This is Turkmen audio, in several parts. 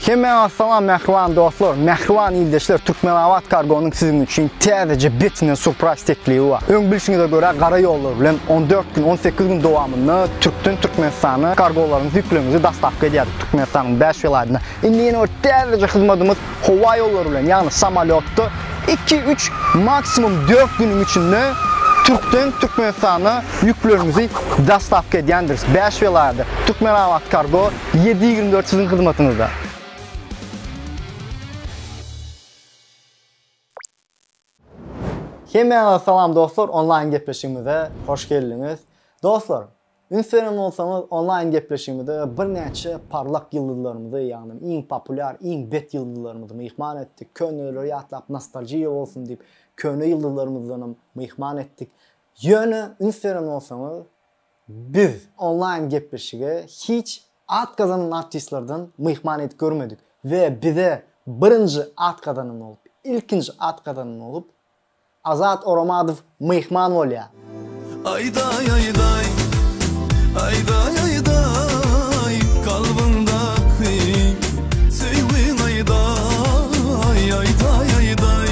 Hemmäňe salam mähriban dostlar, mähriban ildeşler Türkmenabat kargonyň siziň üçin täzeje betinden surpraýz teklibi bar. Öň bilşiňize görä gara ýollar bilen on dört gün, on sekiz gün dowamynda türkden Türkmenistana kargolaryňyzy ýüklegiňizi dastawka edýärdik Türkmenistanyň bäş welaýatyna. Indi ýene bir täzeje hyzmadymyz howa ýollary bilen ýagny samolýotda iki, üç maksimum dört günüň içinde türkden Türkmenistana ýüklegiňizi dastawka edýändiris bäş welaýada Türkmenabat kargo Ýedi ýigrimi dört siziň hyzmatyňyzda. Hemmäňize salam dostlar onlaýn gepleşigimize hoş geldiňiz. Dostlar, üns beren bolsaňyz onlaýn gepleşigimizde birnäçe parlak ýyldyzlarymyzy, ýagny iň populýar, iň bet ýyldyzlarymyzy myhman etdik. Köneleri ýatlap nostalgiýa bolsun diýip, köne ýyldyzlarymyzdanam myhman etdik. Ýöne üns beren bolsaňyz, Biz onlaýn gepleşige hiç at gazanan artistlerden myhman edip görmedik we bize birinji at gazanan bolup, ilkinji at gazanan bolup Azat Oramadow myhman bolýar. Aýdaý aýdaý, aýdaý aýdaý, kalbyňdaky söýgiňi aýdaý, aýdaý aýdaý.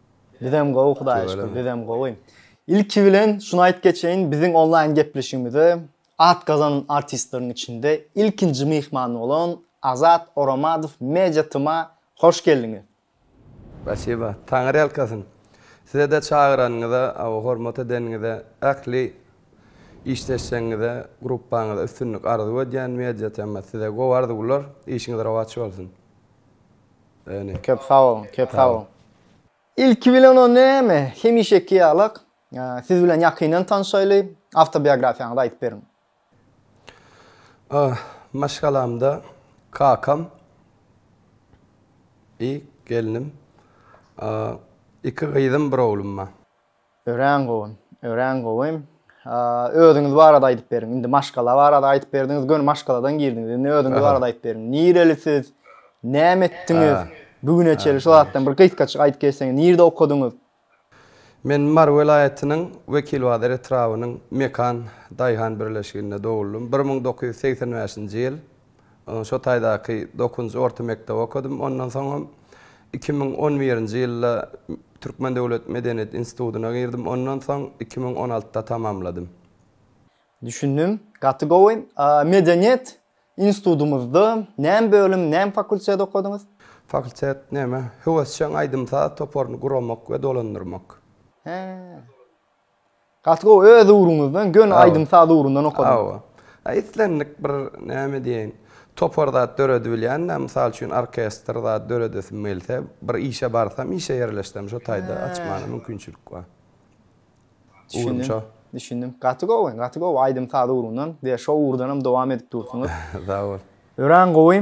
Bizem gowy Hudaýa şükür bizem gowy. Ilki bilen şuny aýyp geçeýin biziň onlaýyn gepleşigimize at gazanan artistleriň içinde ilkinji myhman bolan Azat Oramadow Media TM'a hoş geldiňiz. Spasiba. Taňyr ýalkasyn. Sizede çagyranyňyza aw hormat edeniňize ähli işdeşleriňize gruppaňyza üstünlik arzuw edýän Media TM size gowy arzuwlar işiňiz rowaç bolsun. Öne. Köp sag boluň, köp sag boluň. Ilki bilen o näme? Hemişeki ýalak. Siz bilen ýakyndan tanşaýly, awtobiografiýaňyzy aýdyp beriň. Ah, maşgalamda kakam I gelnim, iki gyzym bir oglum bar. Örän gowy. Örän gowy. Özüňiz barada aýdyp beriň. Indi maşgala barada aýdyp berdiňiz, göni maşgaladan girdiňiz. Indi özüňiz barada aýdyp beriň. Nireli siz? Näme etdiňiz? Bu güne çenli şu zatdan bir gysgaçyk aýdyp geçseňiz. Nirde okadyňyz? Men Mary welaýatynyň Wekilbazar etrabynyň Mekan daýhan birleşiginde doguldym. Bir müň dokuz ýüz segsen bäşinji ýyl Şo taýdaky dokuzynjy orta mekdebi okadym. Ondan soňam iki müň on birinji ýylda Türkmen döwlet medeniýet institutyna girdim. Ondan soň iki müň on altyda tamamladym. Düşündim. Gaty gowy. Medeniýet institutymyzda näme bölüm, näme fakultet okadyňyz? Fakultet näme? Höwesjeň aýdym-saz toparyny guramak we dolandyrmak. Hä. Gaty gowy öz ugruňyzdan göni aýdym saz ugrundan okadyňyz. Hawa. A islendik bir näme diýeýin topar zat döredibilýända mysal üçin orkestr zat döredesim gelse bir işe barsam işe ýerleşsem şo taýda açmana mümkinçilik bar. Ugrumça. Düşündim. Gaty gowy gaty gowy aýdym saz ugrundan diýe şo ugurdanam dowam edip dursuňyz. Sag bol. Örän gowy.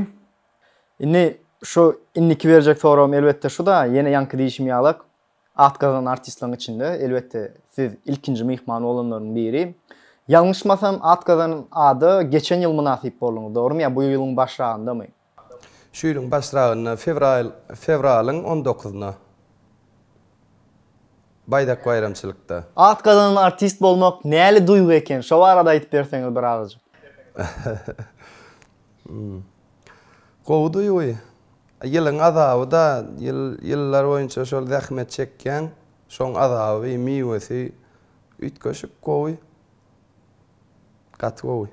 Indi şu indiki berjek soragym elbetde şuda ýene ýaňky diýişim ýalak. At gazanan artistleriň içinde, elbetde, siz ilkinji myhman bolanlaryň biri. Ýalňyşmasam, at gazanan ada geçen ýyl mynasyp bolduňyz, dogrumy? Ýa bu ýylyň başragyndamy? Şu ýylyň başragynda, fewral, fewralyň on dokuzynda. Baýdak baýramçylykda. At gazanan artist bolmak näli duýgy eken? Şo barada aýdyp berseňiz bir agajyk. Gowy duýgy. Ýylyň azaby-da, ýyl, ýyllar boýunça şol zähmet çekýäň, şoň azaby, miwesi üýtgeşik gowy. Gaty gowy.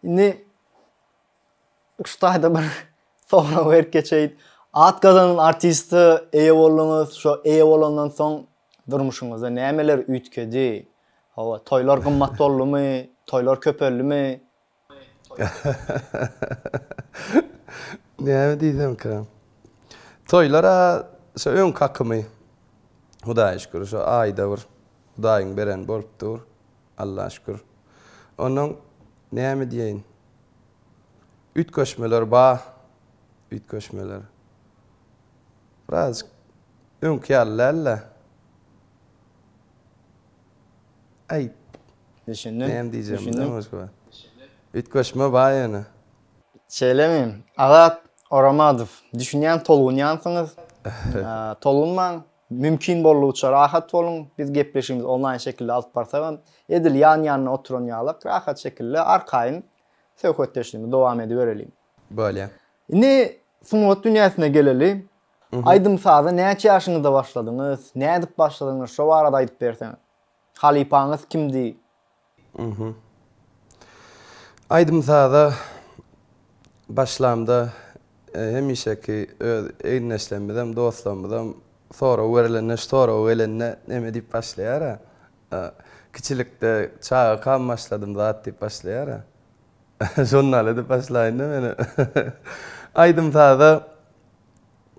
Indi ussada bir sorag berip geçeýin. At gazanan artiste eýe bolduňyz, şo eýe bolandan soň durmuşyňyzda nämeler üýtgedi? Hawa, toýlar gymmat boldumy, toýlar köpeldimi? Näme diýsemka? Toýlar-a şu öňki akymy. Hudaýa şükür, şu aýda bir Hudaýyň bereni bolup dur. Alla şükür. Onnoň näme diýeýin? Üýtgeşmeler bar. Üýtgeşmeler. Birazajyk öňki ýaly däl-de. Aýt. Düşündim. Näme diýjegimi bilmän başga. Üýtgeşme bar ýöne. Şeýlemi? Azat Oramadow, düşünýän tolgunýansyňyz. Tolgunmaň. Mümkin boldugyça rahat boluň. Biz gepleşigimizi onlaýn şekilde alyp barsagam, edil ýan-ýanyna oturan ýalak rahat şekilde arkaýyn söhbetdeşligimizi dowam edibereliň. Bolýar. Indi sungat dünýäsine geleli. Aýdym-saza näçe ýaşyňyzda başladyňyz? Nädip başladyňyz? Şo barada aýdyp berseňiz. Halypaňyz kimdi? Aýdym-saza başlamda hemişeki öz egin-eşlerimizem, dostlarymyzam sorag berilende, şu sorag gelende neme diýip başlaýar-a? Kiçilikde çagakam başladym zat diýip başlaýar-a? Şondan edip başlaýyn-da men. Aýdym-saza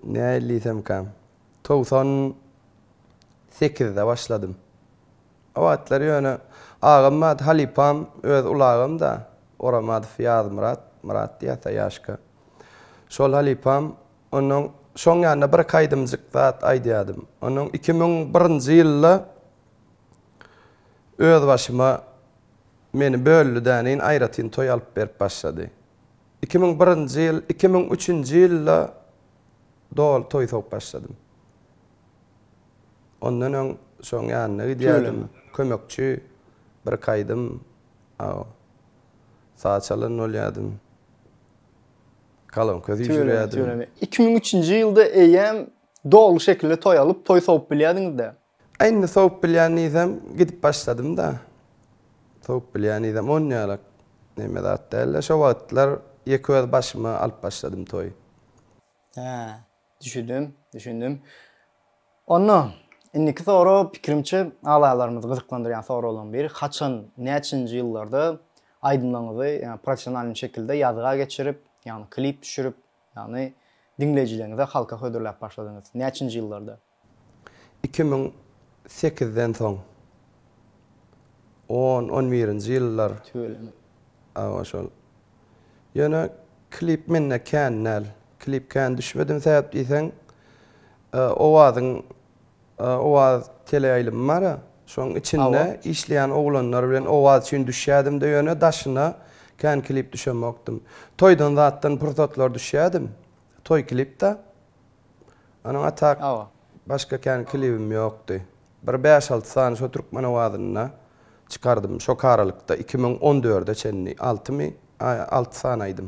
Nähili diýsemkäm, togsan sekizde başladym. O wagtlar ýöne agam bar, halypam, öz ulagym-da, Oramadow Ýazmyrat, Myrat diýýär ata ýaşka. Şol halypam, onnoň şoň ýanynda bir-iki aýdymjyk zat aýdýardym. Onnoň iki müň birinji ýylda özbaşyma meni böldi-däneýin aýratyn toý alyp berip başlady. Iki müň birinji ýyl, iki müň üçünji ýylda doly toý sowup başladym. Ondan öň şoň ýanyna gidýärdim, kömekçi, birki aýdym aw, saz çalan bolýardym. Kalonka süýşürýärdim. Iki müň üçünji ýylda eýýäm doly şekilde toý alyp, toý sowup bilýärdiňiz-dä? Indi sowup bilýän diýsem, gidip başladym-da. Sowup bilýän diýsem, onýalak neme zat däl-de. Şo wagtlar ýeke öz başyma alyp başladym toýy. Hä, düşündim, düşündim. Onda, indiki sorag, pikirimçe, agzalarymyzy gyzyklandyrýan soraglaryň biri, haçan, näçenji ýyllarda aýdymlaryňyzy, ýagny professionalny şekilde ýazga geçirip, ýagny klip düşürip, ýagny diňleýjileriňize, halka hödürläp başladyňyz? Näçenji ýyllarda? Iki müň sekizden soň on, on birinji ýyllar Tüweleme. şol. Ýöne klip mende kän däl. Klip kän düşmedim sebäp diýseň, Owazyň Owaz teleýaýlymy bar, şoň içinde işleýän oglanlar bilen Owaz üçin düşýädim-de ýöne daşyna kän klip düşemokdym. Toýdan zatdan pursatlar düşýädim. Toý klip-da. Onuň atak başga kän klibim ýokdy. Bir bäş-alty sany şo türkmen owazynda çykardym. Şo karalykda iki müň on dörde çenli altymy alty sany aýdym.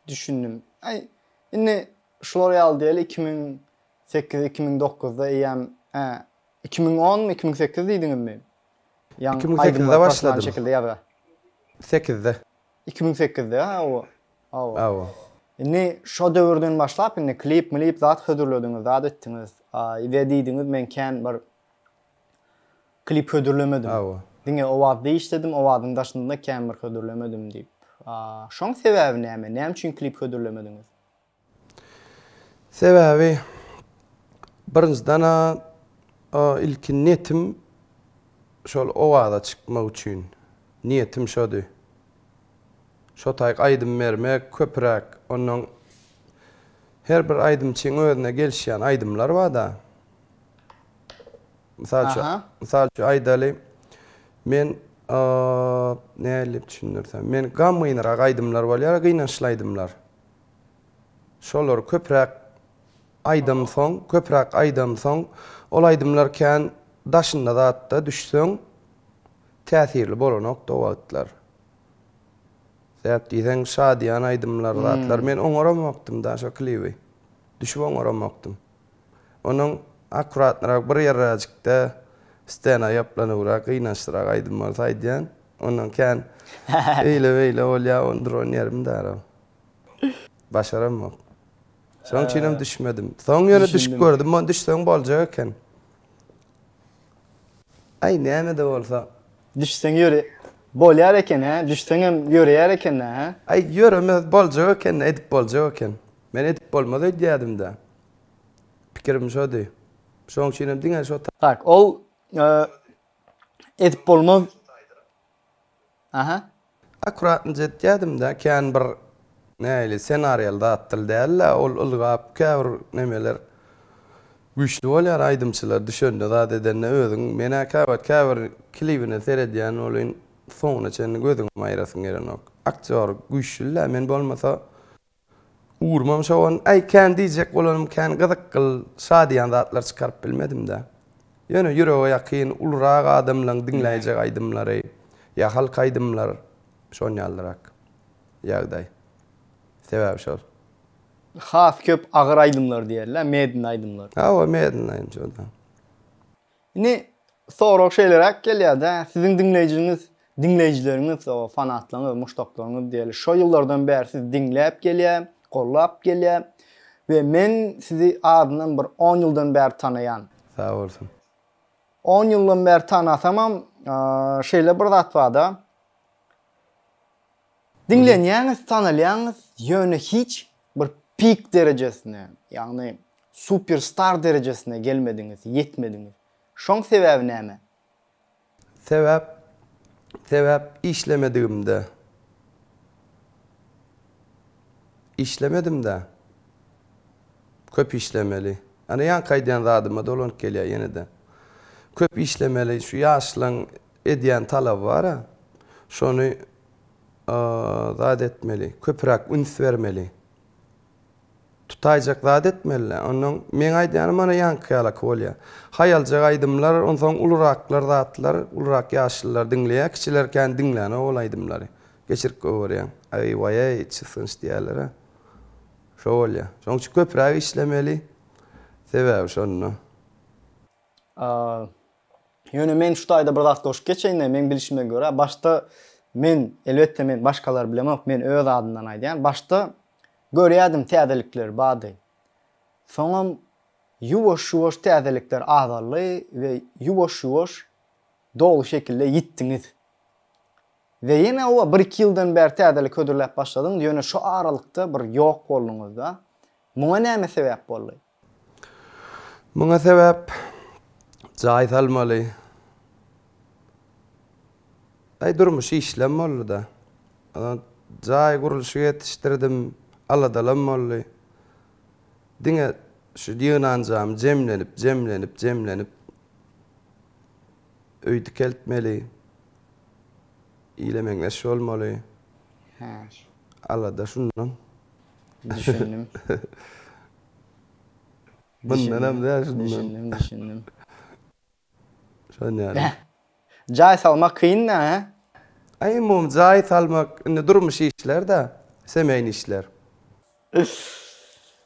Düşündim. Aý, indi şular ýaly diýeli iki müň sekiz, iki müň dokuzda eýýäm hä, iki müň onmy, iki müň sekiz diýdiňizmi? Ýaň aýdymlar professional şekilde ýazga. Sekizde. Iki müň sekizde ha o awa. Awa. Indi şo döwürden başlap indi klip milip zat hödürlediňiz zat etdiňiz ide diýdiňiz men kän bir klip hödürlemedim. Awa. Diňe owazda işledim owazyň daşynda kän bir hödürlemedim diýip. Şoň sebäbi näme näme üçin klip hödürlemediňiz? Sebäbi birinjiden-ä ilki netim şol owaza çykmak üçin. Niýetim şody. Şo taýy aýdym bermek köpüräk. Onnoň her bir aýdymçyň özüne gelişýän aýdymlary bar-da. Mysal üçin, mysal üçin aýdaly, men nädip düşündirsem, men gamgynrak aýdymlar bolýar, gynançly aýdymlar. Şolary köpräk aýdamsoň, köpräk aýdamsoň, ol aýdymlar kän daşynda zatda düşseň, täsirli bolanokdy o wagtlar. Sebäp diýseň, şadyýan aýdymlar, zatlar. Men oňaramokdym-da şo klibi. Düşüp oňaramokdym. Onuň akkuratnyrak bir ýerräjikde stena ýaplanybrak, gynançlyrak aýdym bolsa aýdýan. Ondan kän eýle-beýle bolýar, ony duran ýerim dälä. Başaramok. Şonuň üçin hem düşmedim. Soň ýöne düşüp gördüm, muňa düşseň boljak eken. Aý, näme-de bolsa. Düşseň ýöre, bolýar eken-hä, düşseňem ýöreýär eken-dä, hä? Aý, ýöremez, boljak eken-dä, edip boljak eken. Men edip bolmaz öýdýädim-dä. Pikirim şody. Şoň üçinem diňe şo. Tak, ol edip bolmaz. Aha. Akuratnyja etýädim-dä, kän bir näili ssenariýaly zatdyl däl-ä, ol ylgap käbir nemeler güýçli bolýar aýdymçylar düşende zat edende özüň men-ä käwagt käbir klibine seredýän welin soňuna çenli gözüňem aýrasyň gelenok. Aktýor güýçlül-ä, men bolmasa. Ugrumam şo on. Aý, kän diýjek bolanym kän gyzyk gyl, şa diýýän zatlar çykaryp bilmedim-dä. Ýöne ýürege ýakyn, ulurak adamlaň diňläýjek aýdymlary, ýa halk aýdymlar, şon ýalyrak ýagdaý. Sebäbi şol. Has köp agyr aýdymlar diýerler, medni aýdymlar. Hawa, medni aýdym şo-da. Indi sorag şeýleräk gelýär-dä, siziň diňleýjiňiz, diňleýjileriňiz, o fanatlaryňyz, muşdaklaryňyz diýeli, şo ýyllardan bäri sizi diňläp gelýär, gollap gelýär we men sizi azyndan bir on ýyldan bäri tanaýan. Sag bolsun. On ýyldan bäri tanasamam, şeýle bir zat bar-da, Diňlenýäňiz, tanalýaňyz, ýöne hiç bir pik derejesine, ýagny super star derejesine gelmediňiz, ýetmediňiz. Şoň sebäbi näme? Sebäp, sebäp işlemedigimde. Işlemedim-dä. Köp işlemeli. Ana ýaňky aýdýan zadyma dolanyp gelýär ýene-de. Köp işlemeli. Şu ýaşlaň Edýän talaby bar-a. Şony zat etmeli. Köpüräk üns bermeli. Tutaýjak zat etmeli-dä. Onnoň meň aýdýanym ana ýaňky ýalaky bolýar. Haýaljak aýdymlar, onsoň uluraklar zatlar, ulurak ýaşlylar diňleýär, kiçiler kän diňlänok ol aýdymlary. Geçirip goýberýäň. Aý-waý-eý, çysgynç diýerler-ä. Şo bolýar. Şonuň üçin köpüräk işlemeli. Sebäbi şonda. Ýöne men şu taýda bir zat goşup geçeýin-de, meň bilişime görä, başda men, elbetde, men başgalary bilemok, men öz adymdan aýdýan, başda görýärdim täzelikler bady. Soňam ýuwaş-ýuwaş täzelikler azaldy we ýuwaş-ýuwaş doly şekilde ýitdiňiz. We ýene oba bir-iki ýyldan bäri täzelik hödürläp başladyňyz, ýöne şu aralykda bir ýok bolduňyz-da. Muňa näme sebäp boldy? Muňa sebäp jaý salmaly. Aý durmuş işlem boldy-da. Jaý gurluşyk etişdirdim, aladalam boldy. Diňe şu ýygnanjamy jemlenip, jemlenip, jemlenip öý dikeltmeli. Ile meňzeş bolmaly. Alada şundan. Düşündim. Bundan hem däl şundan. Düşündim, düşündim. Şon ýaly. Beh. Jaý salmak kynmy, hä? Aý mum jaý salmak indi durmuş işler-dä, semýaýny işler.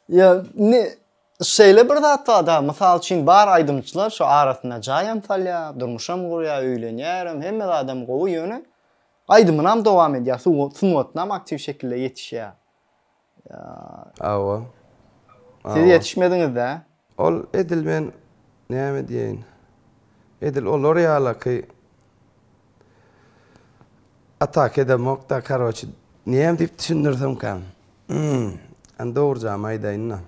Ýa, indi şeýle bir zat bar-da, mysal üçin bar aýdymçylar şu arasynda jaýam salýar, durmuşam gurýar, öýlenýärem, hemme zadam gowy, ýöne Aýdymynam dowam edýär. Sungatynam aktiw şekilde ýetişýär. Ýa. Hawa. Siz ýetişmediňiz-dä? Ol edil men näme diýeýin? Edil olar ýalaky ataka edemok-da, karoçi, näme diýip düşündirsemkäm? Hm, indi dogrujagyny aýdaýyn-da.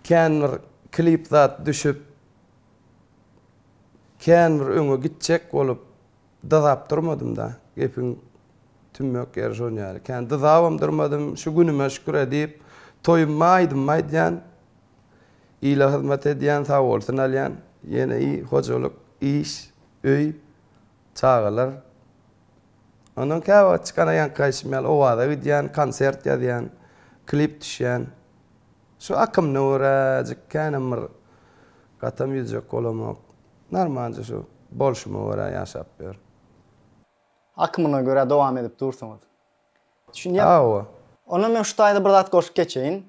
Kän bir klip zat düşüp, kän bir öňe gitjek bolup, Dyzap durmadym-da, gepiň tümmek ýeri şon ýaly. Kän dyzabam durmadym, şu günüme şükür-ä diýip, toýumma aýdymmy aýdýan, ile hyzmat edýän, sagbolsun alýan, ýene i, hojalyk, iş, öý, çagalar. Ondan käwagt çykana ýaňky aýşym ýaly Owaza gidýän, konsert ýazýan, klip düşýän. Şu akymyna göräjik känem bir gatam ýüzjek bolamok. Normalce şu bolşuma görä ýaşap ýörün. Akymyna görä dowam edip dursuňyz. Düşünýäň? Hawa. Onda men şu taýda bir zat goşup geçeýin.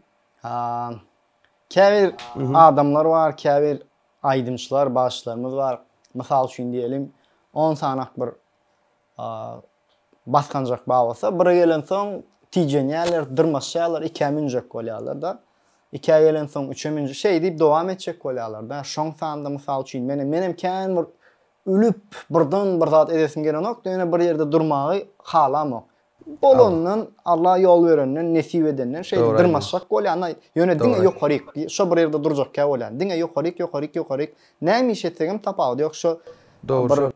Käbir adamlar bar, käbir aýdymçylar, bagşylarymyz bar. Mysal üçin diýelim, on sanak bir A basganjak bar bolsa, bire gelensoň tijenýärler, dyrmaşýarlar, ikä münjek bolýarlar-da. Ikä gelensoň üçe münjek, şeý diýip dowam etjek bolýarlar-da. Şoň sanda, mysal üçin, menem, menem kän bir ülüp, birden bir zat edesim gelenokdy, ýöne bir ýerde durmagy halamok. Bolandan, Alla ýol berenden, nesip edenden şeýdip dyrmaşjak bolýan-a, ýöne diňe ýokaryk, şo bir ýerde durjakkä bolýan. Diňe ýokaryk, ýokaryk, ýokaryk. Näme iş etsegem tapawudy ýok, şo bir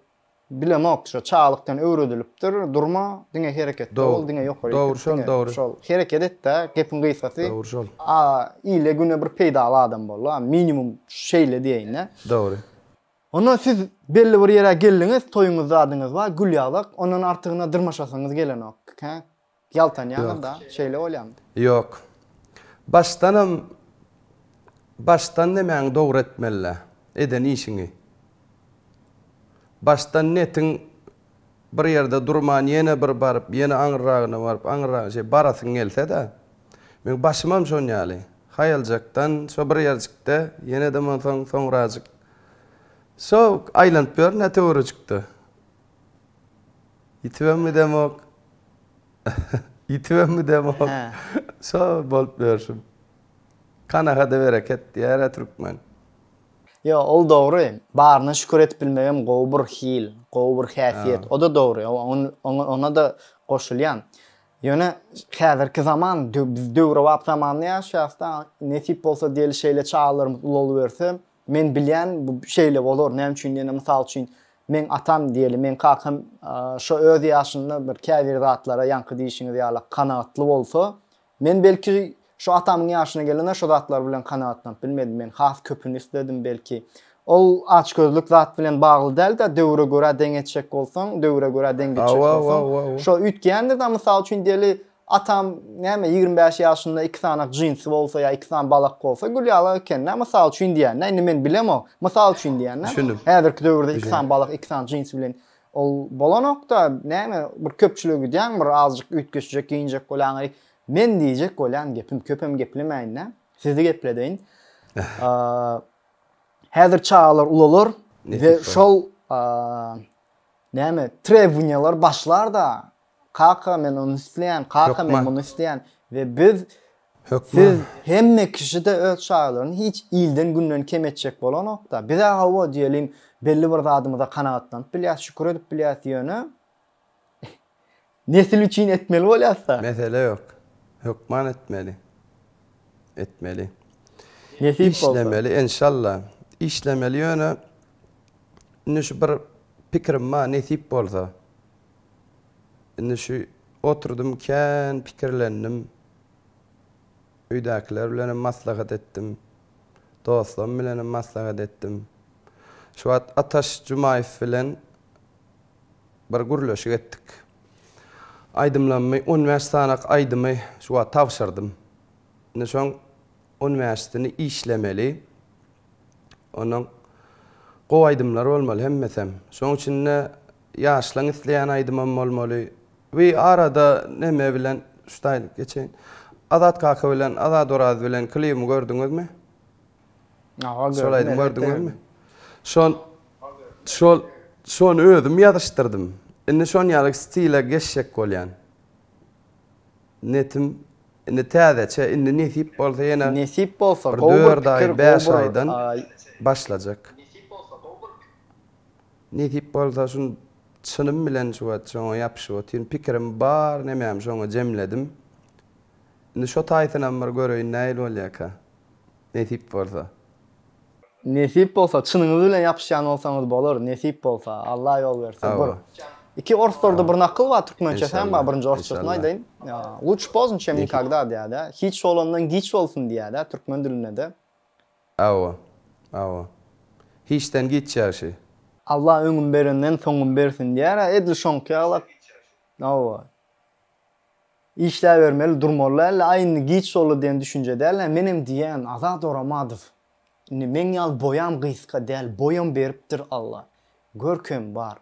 Bilemok şo çaglykdan öwredilipdir durma diňe hereketde bol diňe ýokary Dogry şol dogry. Şol hereket etdä gepiň gysgasy. Dogry şol. A ile güne bir peýdaly adam bol a minimum şeýle diýeýinä. Dogry. Onda siz belli bir ýere geldiňiz toýuňyz zadyňyz bar gül ýagdak ondan artygyna dyrmaşasyňyz gelenok hä Ýaltanýaňyz-da, şeýle bolýamy? Ýok. Başdanam Başdan nemäňi dogry etmeli-dä, eden işiňi. Başdan netiň bir ýerde durman ýene bir baryp, ýene aňyrragyna baryp, aňyrragyna şeý barasyň gelse-dä. Meň başymam şon ýaly. Haýaljakdan şo bir ýerjikde, ýene-de monsoň soňrajyk şo aýlanyp ýörün-ä töweregikde. Ýitibem gidemok. Ýitibem gidemok. Şo bolup ýörşüm. Kanagada bereket diýär-ä türkmen. Ýo, ol dogry. Baryna şükür edip bilmegem gowy bir hil, gowy bir häsiýet. O-da dogry. Ona-da goşulýan. Ýöne häzirki zaman, biz döwrebap zamanda ýaşaýas-da. Nesip bolsa diýeli şeýle çagalarymyz ulalaberse, Men bilýän, bu şeýle bolar. Näme üçin diýende, mysal üçin, meň atam diýeli, meň kakam şo öz ýaşynda bir käbir zatlara ýaňky diýişiňiz ýaly kanagatly bolsa, men belki şo atamyň ýaşyna gelende şo zatlar bilen kanagatlanyp bilmedim. Men has köpüni isledim belki. Ol açgözlük zat bilen bagly däl-de, döwre görä deň etjek bolsaň, döwre görä deň gitjek bolsaň, şo üýtgeýändir-de, mysal üçin diýeli, Atam, näme, ýigrimi bäş ýaşynda iki sany jinsi bolsa ýa iki sany balak bolsa Gülýala ekeni-dä, mysal üçin diýýän-dä, indi men bilemok, mysal üçin diýýän-dä. Düşündim. Häzirki döwürde iki sany balak, iki sany jinsi bilen ol bolanok-da, näme, bir köpçülige gidýäň, bir azajyk üýtgeşjek geýinjek bolýaň, eý, men diýjek bolýan gepim, köpem geplemäýin-dä, sizi gepledeýin. Häzir çagalar ulalar we şol, näme, trebowaniýalar başlar-da. Kaka men ony isleýän, kaka men muny isleýän we biz siz hemme kişide öz çagalaryny hiç ilden günden kem etjek bolanokda. Bizä hawa diýelim belli bir zadymyza kanagatlanyp bilýäs, şükür edip bilýäs ýöne nesil üçin etmeli bolýasda. Mesele ýok. Hökman etmeli. Etmeli. Nesip bolsa. Işlemeli enşalla. Işlemeli ýöne indi şu bir pikirim bar nesip bolsa. Indi şu oturdym kän pikirlendim. Öýdäkiler bilenem maslahat etdim. Dostlarym bilenem maslahat etdim. Şu wagt Ataş Jumaýew bilen bir gürleşik etdik. Aýdymlarymy on bäş sanak aýdymy şu wagt tabşyrdym. Indi şoň on bäşisini işlemeli. Ondan gowy aýdymlar bolmaly hemmesem. Şoň içinde ýaşlaň isleýän aýdymam bolmaly. We arada neme bilen şutaýlyk geçeýin. Azat kaka bilen Azat Oraz bilen klibimi gördüňizmi? Hawa gördüm. Şol aýdymy gördüňizmi? Şon şol şony özüm ýazyşdyrdym. Indi şon ýaly stile geçjek bolýan. Netim, indi täzeçe, indi nesip bolsa ýene. Nesip bolsa, gowy bir pikir, gowy bir. Dört aý, bäş aýdan başlajak. Nesip bolsa, gowy bir pikir. Nesip bolsa, şun çynym bilen şu wagt şoňa ýapyşyp otyryn. Pikirim bar, nemäm şoňa jemledim. Indi şo taýsynam bir göreýin nähili bolýarka. Nesip bolsa. Nesip bolsa çynyňyz bilen ýapyşýan bolsaňyz bolar nesip bolsa Alla ýol berse bir iki orslarda bir nakyl bar türkmençe sen bar birinji orsçasyny aýdaýyn luç poznj çem nikagda diýädä hiç bolandan giç bolsun diýädä türkmen dilindede Awa awa hiçden giç ýagşy. Alla öňüm berenden soňum bersin diýärä edil şoňky ýalak awa. Işläbermeli durmaly äl aý indi giç boldy diýen düşünje däl nä menem diýýän Azat Oramadow indi meň ýaly boýam gysga däl boýam beripdir Alla görkem bar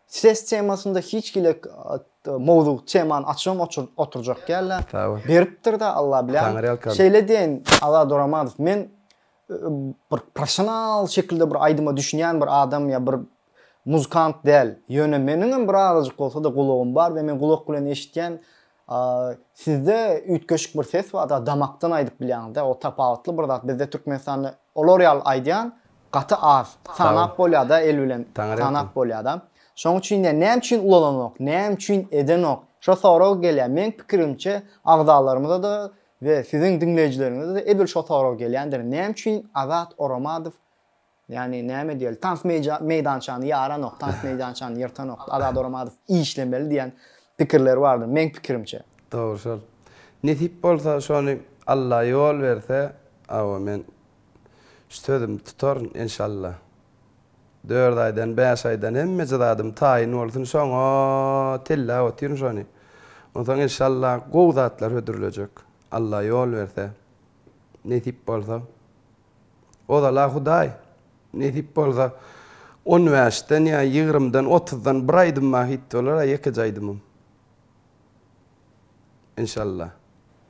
ses temasynda hiç hili mowzuk temany açybam oturjak däl nä beripdir de Alla bilýän şeýle diýeýin Azat Oramadow men bir proffesional şekilde bir aýdyma düşünýän bir adam ýa bir muzykant däl, ýöne meniňem bir azajyk bolsa-da gulagym bar we men gulak bilen eşitýän, sizde üýtgeşik bir ses bar, da damakdan aýdyp bilýäňiz dä, o tapawutly bir zat, bizde Türkmenistanda olar ýaly aýdýan gaty az, sanap bolýar da el bilen, sanap bolýar da. Şonuň üçin de näme üçin ulalanok, näme üçin edenok, şo sorag gelýär, meň pikirimçe agzalarymyza-da we siziň diňleýjileriňize-de edil şo sorag gelýändir, näme üçin Azat Oramadow Ýani näme diýeli tans meýdançany ýaranok, tans meýdançany ýyrtanok, Azat Oramadow işlemeli diýen pikirler bardyr meň pikirimçe. Dogry şol. Nesip bolsa şony Alla ýol berse awa men şu sözümi tutaryn enşalla. Dört aýdan bäş aýdan hemmeje zadym taýyn bolsun şoňa telläp otyryn şony. Onsoň enşalla gowy zatlar hödürlejek Alla ýol berse. Nesip bolsa. Ozal-a Hudaý, nesip bolsa, on bäşden ýa ýigrimidan, otuzdan bir aýdymym-a hit bolar-a, ýekeje aýdymym. Enşalla.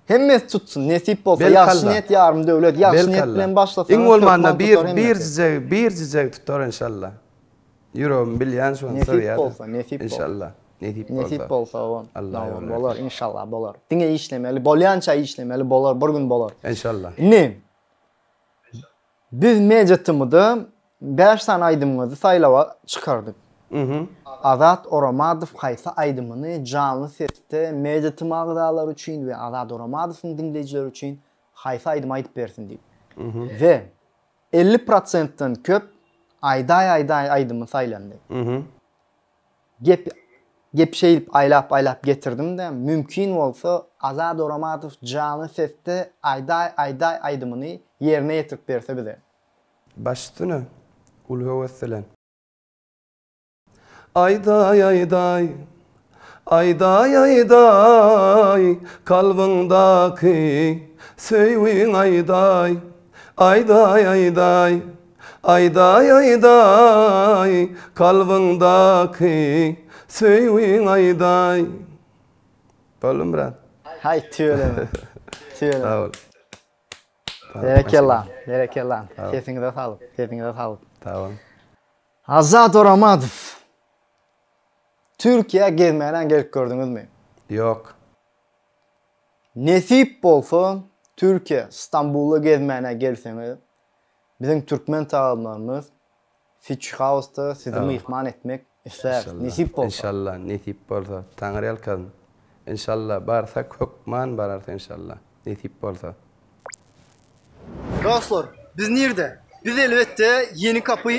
Hemmesi tutsun, nesip bolsa, ýagşy niýet ýarym döwlet, ýagşy niýet bilen başlasaňyz, iň bolmanda bir birjijegi, birjijegi tutar enşalla. Ýüregim bilýän şony söýýär. Nesip bolsa, nesip bolsa. Enşalla. Nesip bolsa. Nesip bolsa, owan. Bolar, enşalla bolar. Diňe işlemeli, bolýança işlemeli, bolar, bir gün bolar. Enşalla. Indi. Biz Media TM-da bäş sany aýdymyňyzy saýlawa çykardyk. Azat Oramadow haýsy aýdymyny janly sesde Media TM agzalary üçin we Azat Oramadowyň diňleýjileri üçin haýsy aýdymy aýdyp bersin diýip. We elli prosentden köp Aýdaý aýdaý aýdymy saýlandy. Gep Gep şeýdip aýlap aýlap getirdim-de, mümkin bolsa Azat Oramadow janly sesde Aýdaý aýdaý aýdymyny ýerine ýetirip berse bize. Baş üstüne, uly höwes bilen. Aýdaý aýdaý, aýdaý aýdaý, kalbyňdaky söýgiň aýdaý, aýdaý aýdaý. Aýdaý aýdaý kalbyňdaky söýgiň aýdaý Boldumy brat. Haý tüweleme tüweleme. Sag bol. Berekella berekella sesiňize saglyk sesiňize saglyk. Sag boluň. Azat Oramadow Türkiýä gezmäne gelip gördüňizmi? Ýok. Nesip bolsa Türkiýä Stambula gezmäne gelseňiz Biziň türkmen tagalymlarymyz Fitch House-da sizi myhman etmek isläris, nesip bolsa. Enşalla, nesip bolsa. Taňryýalkasyn. Enşalla, barsak hökman bararys enşalla, nesip bolsa. Dostlar, biz nirde? Biz elbetde Ýeni Kapy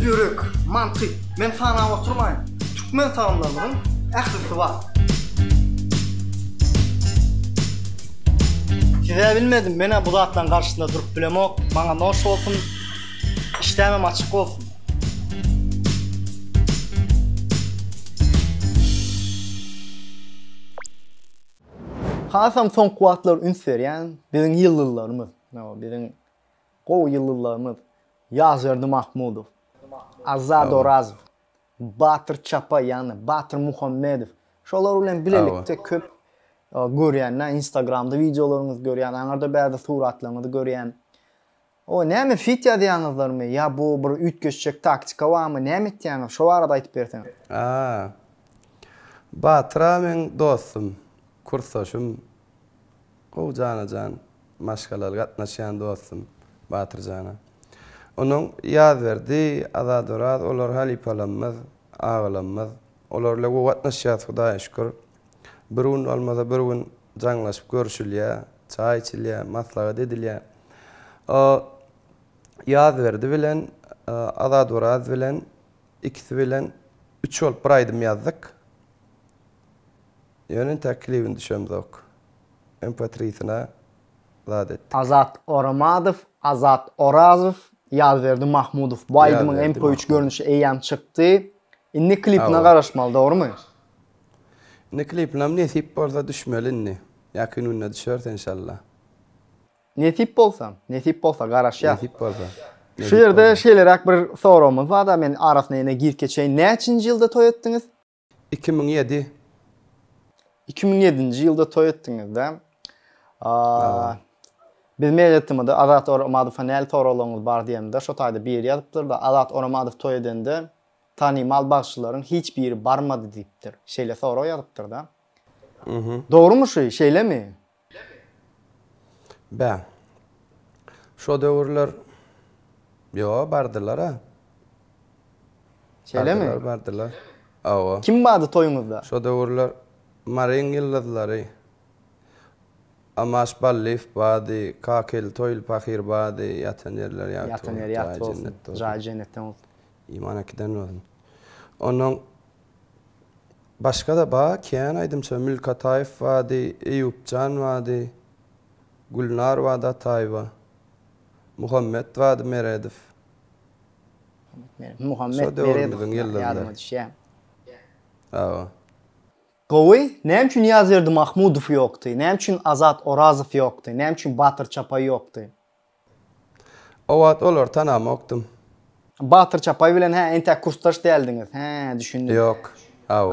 Ýürek, mantyk, men sanap oturmaýyn. Türkmen salymlarynyň ählisi bar. Size bilmedim, menä bu zatlaryň garşysynda durup bilemok. Maňa noş bolsun. Işdämem açyk bolsun. Hasam soňky wagtlar üns berýän biziň ýyldyzlarymyz. Biziň Gowy ýyldyzlarymyz, Ýazberdi Mahmudow, Azat Orazow, Batyr Çapa ýagny Batyr Muhammedow şolar bilen bilelikde köp görýän-ä instagramda wideolaryňyzy görýän aňarda bäzi suratlaryňyzy görýän. O näme fit ýazýaňyzlarmy ýa bu bir üýtgeşjek taktika barmy näme etýäňiz şo barada aýtyp berseňiz. A. Batyr a meň dostum, kursdaşym, gowy jana-jan. Maşgalaly gatnaşýan dostum Batyr jana. Onuň Ýazberdi, Azadoraz olar halypalamyz, agalamyz. Olar bilen gowy gatnaşýas Hudaýa şükür. Bir gün bolmasa bir gün jaňlaşyp görşülýä, çaý içilýä, maslahat edilýä. O Ýazberdi bilen Azadoraz bilen ikisi bilen üç bolup bir aýdym ýazdyk. Ýöne intäk klibini düşemzok. Empatrisine zat etdik. Azat Oramadow, Azat Orazow, Ýazberdi Mahmudow bu aýdymyň MP3 görnüşi eýýäm çykdy. Indi klipine garaşmaly, dogrumy? Indi klipinem nesip bolsa düşmeli indi. Ýakyn günde düşer enşalla. Nesip bolsa, nesip bolsa garaşýas. Nesip bolsa. Şu ýerde şeýleräk bir soragymyz bar-da, men arasyna ýene girip geçeýin. Näçinji ýylda toý etdiňiz? Iki müň ýedi. Iki müň ýedinji ýylda toý etdiňiz-dä. Biz mail etdimidi, Azat Oramadowa näli soraglaryňyz bar diýemde, şo taýda biri ýazypdyr-da, Azat Oramadow toý edende tanymal bagşylaryň hiç biri barmady diýipdir. Şeýle sorag ýazypdyr-da. Dogrumy şu, şeýlemi? Bä, şo döwürler Ýo, bardylar-a. Şeýlemi? Bardylar, bardylar. Awa. Kim bardy toýuňyzda? Şo döwürler Maryň ýyldyzlary. Amaş Ballyýew bardy, Kakely Toýly pahyr bardy, ýatan ýerleri ýagty bolsun. Ýatan ýeri ýagty bolsun. Jaýy jennetden bolsun. Iman äkiden bolsun. Onnoň Başga-da ba kän aýdymça Mülk Ataýew bady, Eýupjan bady, Gülnar bady Ataýewa, Muhammet bady Meredow. Muhammet Meredow ýadyma düşýä. Hawa. Gowy, näme üçin Ýazberdi Mahmudow ýokdy, näme üçin Azat Orazow ýokdy, näme üçin Batyr Çapaý ýokdy? O wagt olary tanamokdym. Batyr Çapaý bilen hä entäk kursdaş däldiňiz. Hä, düşündim. Ýok. Aw.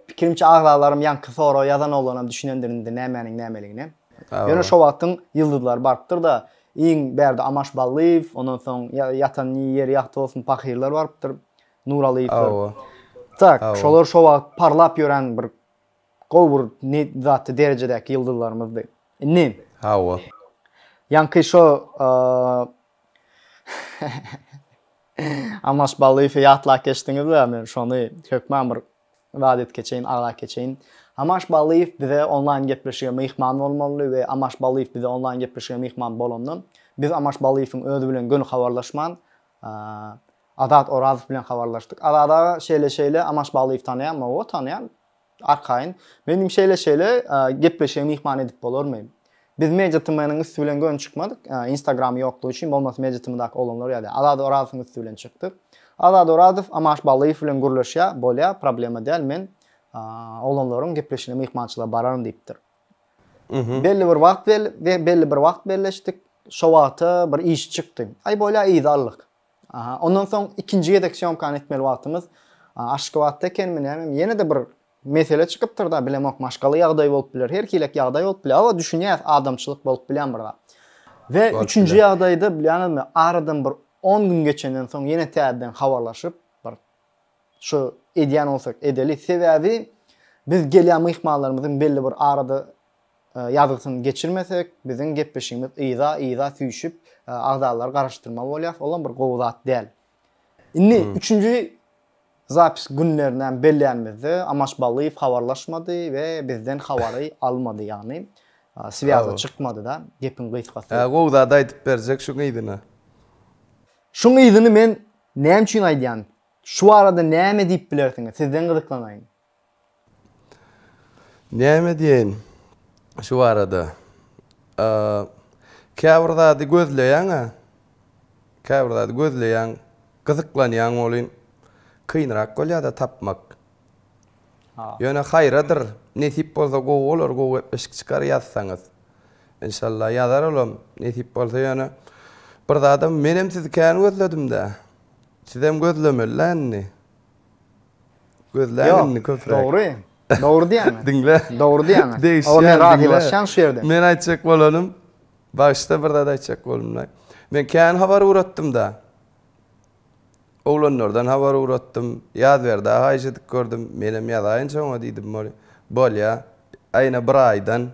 Pikirimçe agzalarym ýaňky soragy ýazan oglanam düşünendir indi nämäniň nämeligine. Ýöne şo wagtyň ýyldyzlary barypdyr-da, iň bärde Amaş Ballyýew, ondan soň ýatan ýeri ýagty bolsun pahyrlar barypdyr, Nuralyýewler. Tak, şolar şo wagt parlap ýören bir Gowy bir ne zatda derejedäki ýyldyzlarymyzdy. Indi. Hawa. Ýaňky şo Amaş Ballyýewi ýatlap geçdiňizle, men şony hökman bir zat edip geçeýin, aglap geçeýin. Amaş Ballyýew bize onlaýn gepleşige myhman bolmaly we Amaş Ballyýew bize onlaýn gepleşige myhman bolanda, biz Amaş Ballyýewiň özi bilen göni habarlaşman, Azat Orazow bilen habarlaşdyk. Azat aga şeýle-şeýle Amaş Ballyýewi tanaýanmy? Hawa, tanaýan. Arkaýyn. Meniň şeýle-şeýle gepleşige myhman edip bolarmy? Biz MediaTm-nyň üsti bilen göni çykmadyk, Instagram ýoklugy üçin, bolmasa MediaTm-daky oglanlar ýaly. Azat Orazowyň üsti bilen çykdyk. Azat Orazow Amaş Ballyýew bilen gürleşýär, bolýar, problema däl, men oglanlaryň gepleşigine myhmançylyga bararyn diýipdir. Belli bir wagt belli bir wagt belleşdik. Şo wagta bir iş çykdy. Aý bolýar yza aldyk. Aha, ondan soň ikinji gezek syomkany etmeli wagtymyz Aşgabatda ekenmi näme, ýene-de bir mesele çykypdyr da, bilemok, maşgala ýagdaýy bolup biler, her hilek ýagdaý bolup biler, awa düşünýäs, adamçylyk bolup bilýän bir zat. We üçünji ýagdaýda bilýäňizmi, aradan bir 10 gün geçenden soň ýene täzeden habarlaşyp, bir şu edýän bolsak edeli, sebäbi biz gelýän myhmanlarymyzyň belli bir arada Ýazgysyny geçirmesek, biziň gepleşigimiz yza, yza süýşüp, agzalary garaşdyrmaly bolýarys, olam bir gowy zat däl. Indi üçünji zapis günlerini hem bellänimizde, Amaç Ballyýew habarlaşmady we bizden habary almady, ýagny swýaza çykmady-da, gepiň gysgasy. Hä, gowy zat aýdyp berjek şuň yzyna. Şuň yzyny men näme üçin aýdýan? Şu barada näme diýip bilersiňiz? Sizden gyzyklanaýyn. Näme diýeýin şu barada? Käbir zady gözleýäň-ä. Käbir zady gözleýäň, gyzyklanýaň welin, kynrak bolýar-da tapmak. Ýöne haýradyr, nesip bolsa gowy bolar, gowy gepleşik çykar ýazsaňyz. Enşalla ýazar olam, nesip bolsa ýöne bir zadam menem sizi kän gözledim-dä. Sizem gözlemeli-dä indi. Gözläň indi köpräk. Dogry. Dogry diýýäňiz. Diňle. Dogry diýýäňiz. Degişýän. Oňa men razylaşýan şu ýerde. Men aýtjak bolanym, bagyşla bir zat aýtjak boldumlaý. Men kän habar ugratdym-da. Oglanlardan habar ugratdym. Ýazberdi aga aýjedik gördüm. Menem ýazaýyn şoňa diýdim boli. Bolýa. Aýna bir aýdan.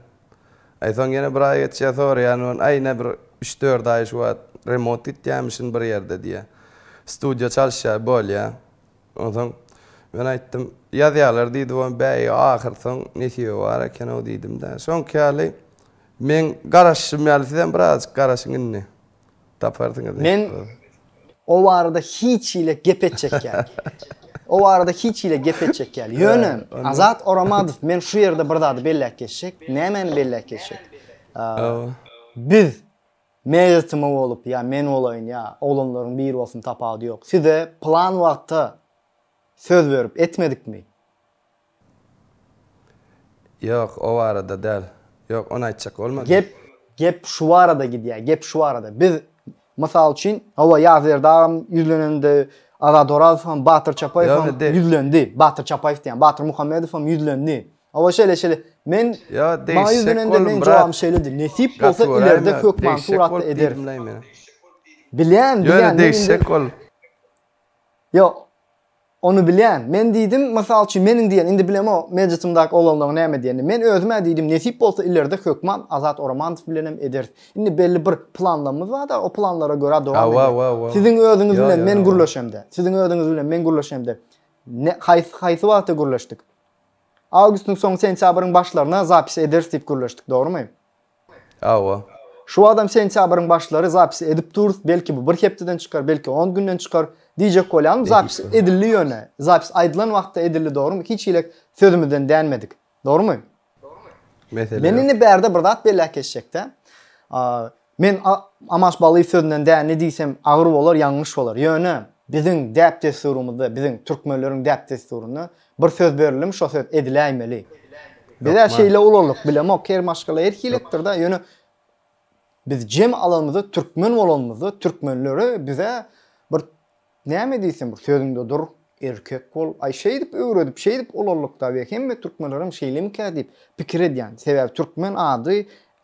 Aý soň ýene bir aý geçýä soraýan on aýna bir üç-dört aý şu wagt remont gitýämişin bir ýerde diýýä. Studiýa çalyşýa bolýa. Onsoň, men aýtdym, Ýazýarlar diýdi we bäý, ahyrsoň nesibe bar eken-ow diýdim-de. Şoňky ýaly, meň garaşyşym ýaly sizem birazajyk garaşyň indi. Taparsyňyz nesibe bolsa. Men o barada hiç hili gep etjek ýaly. O barada hiç hili gep etjek ýaly. Ýöne, Azat Oramadow, men şu ýerde bir zady belläp geçjek. Nämäni belläp geçjek? Biz Meýetimi bolup ýa men bolaýyn ýa oglanlaryň biri bolsun tapawudy ýok. Size plan wagtda söz berip etmedikmi? Ýok, o barada däl. Ýok, ony aýtjak bolmadym. Gep, gep şu barada gidýär, gep şu barada. Biz, mysal üçin, hawa, Ýazberdi agam ýüzlenende, Azat Orazowam, Batyr Çapaýewem ýüzlendi. Batyr Çapaýew diýýän, Batyr Muhammedowam ýüzlendi. Hawa şeýle şeýle. Men maňa ýüzlenende meň jogabym şeýledi. Nesip bolsa ilerde hökman suratda ederis. Bilýän, bilýän. Men indi Ýok. Ony bilýän. Men diýdim, mysal üçin meniň diýen, indi bilemok mejlisimdäki oglanlaryň näme diýenini. Men özüm-ä diýdim, nesip bolsa ilerde hökman Azat Oramanow bilenem ederis. Indi belli bir planlarymyz bar-da, o planlara görä dowam ederis. Siziň özüňiz bilen men gürleşemde, siziň özüňiz bilen men gürleşemde haýsy wagtda gürleşdik? Awgustyň soňy sentýabryň başlaryna zapis ederis diýip gürleşdik dogrymy? Hawa. Şu wagtam sentýabryň başlary zapis edip durus belki bu bir hepdeden çykar belki on günden çykar diýjek bolýarym zapis edildi ýöne zapis aýdylan wagtda edildi dogrymy hiç hile sözümizden dänmedik dogrymy? Mesele ýok. Men indi bärde bir zat belläp geçjekdä Men Amash Bally sözünden däne diýsem agyr bolar, ýalňyş bolar. Ýöne, biziň däp-dessurymyzda, biziň türkmenleriň däp-dessurynda bir söz berildim, şo söz ediläýmeli. Biz-ä şeýle ulaldyk, bilemok, her maşgala her hiletdir-dä, ýöne biz jem alanymyzda, türkmen bolanymyzda, türkmenlere biz-ä bir näme diýsem, bir sözüňde dur, erkek bol, aý, şeýdip öwredip, şeýdip ulaldyk-da, we hemme türkmenlerem şeýlemikä diýip pikir edýän. Sebäbi türkmen ady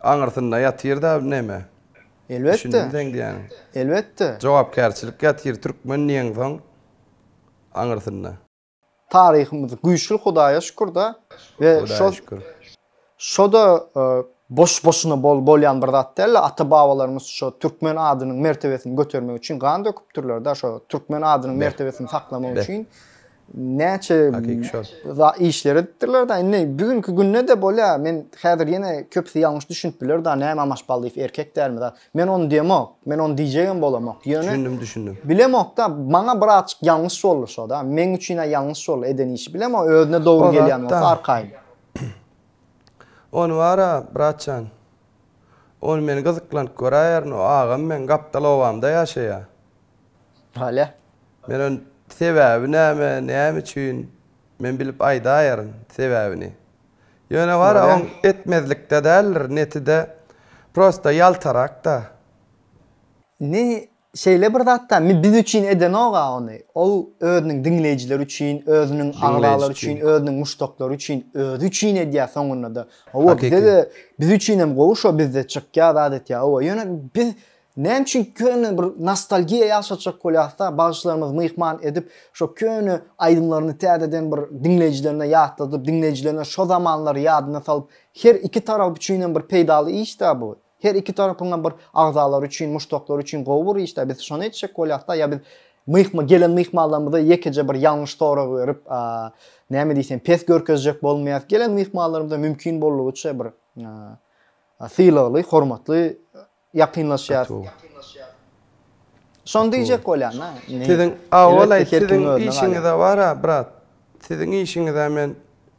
Aňyrsynda ýatyr-da neme? Elbetde. Düşündim seň diýýäniňi. Elbetde. Jogapkärçilik ýatyr türkmen diýeňsoň aňyrsynda. Taryhymyz güýçli Hudaýa şükür-de we şo şo-da boş-boşuna bolýan bir zat däl-de ata-babalarymyz şo türkmen adynyň mertebesini götermek üçin gan döküpdirler-de şo türkmen adynyň mertebesini saklamak üçin näçe işler edipdirler da indi bu günki günde de bolýa men häzir ýene köpüsi ýalňyş düşünip biler da näme amaş ballyýew erkek dälmi da men ony diýemok men ony diýjegem bolamok ýöne düşündim düşündim bilemok da maňa bir azçyk ýalňyş boldy şo da meň üçin a ýalňyş boldy eden işi bilemok özüne dogry gelýän bolsa arkaýyn ony bara bratjan ony men gyzyklanyp göräýerin o agam meň gapdal obamda ýaşaýa. Nalä? Men on sebäbi näme, näme üçin? Men bilip aýdaýaryn sebäbini. Ýöne bar-a oň etmezlikde däldir, netide prosta ýaltarak-da. Indi şeýle bir zat-da, biz üçin edenok-a ony. Ol özüniň diňleýjileri üçin, özüniň agzalary üçin, özüniň muşdaklary üçin, özi üçin edýär soňunda-da. Hawa, bize-de, biz üçinem gowy şo bizde çykýar, zat etýär. Hawa, ýöne biz Näme üçin köne bir nostalgiýa ýaşatjak bolýasda, bagşylarymyzy myhman edip, şo köne aýdymlaryny täzeden bir diňleýjilerine ýatladyp, diňleýjilerine şo zamanlary ýadyna salyp, her iki tarap üçin hem bir peýdaly işdä bu. Her iki tarapyňam bir agzalary üçin, muşdaklary üçin gowy bir işdä. Biz şony etjek bolýasda, ýa biz myhma gelen myhmanlarymyza ýekeje bir ýalňyş sorag berip, näme diýsem, pes görkezjek bolmaýas. Gelen myhmanlarymyza mümkin boldugyça bir sylagly, hormatly Ýakynlaşýas. Şony diýjek bolýan-a, indi. Siziň, Aowalaý, siziň işiňiz-ä bar-a, brat. Siziň işiňiz-ä men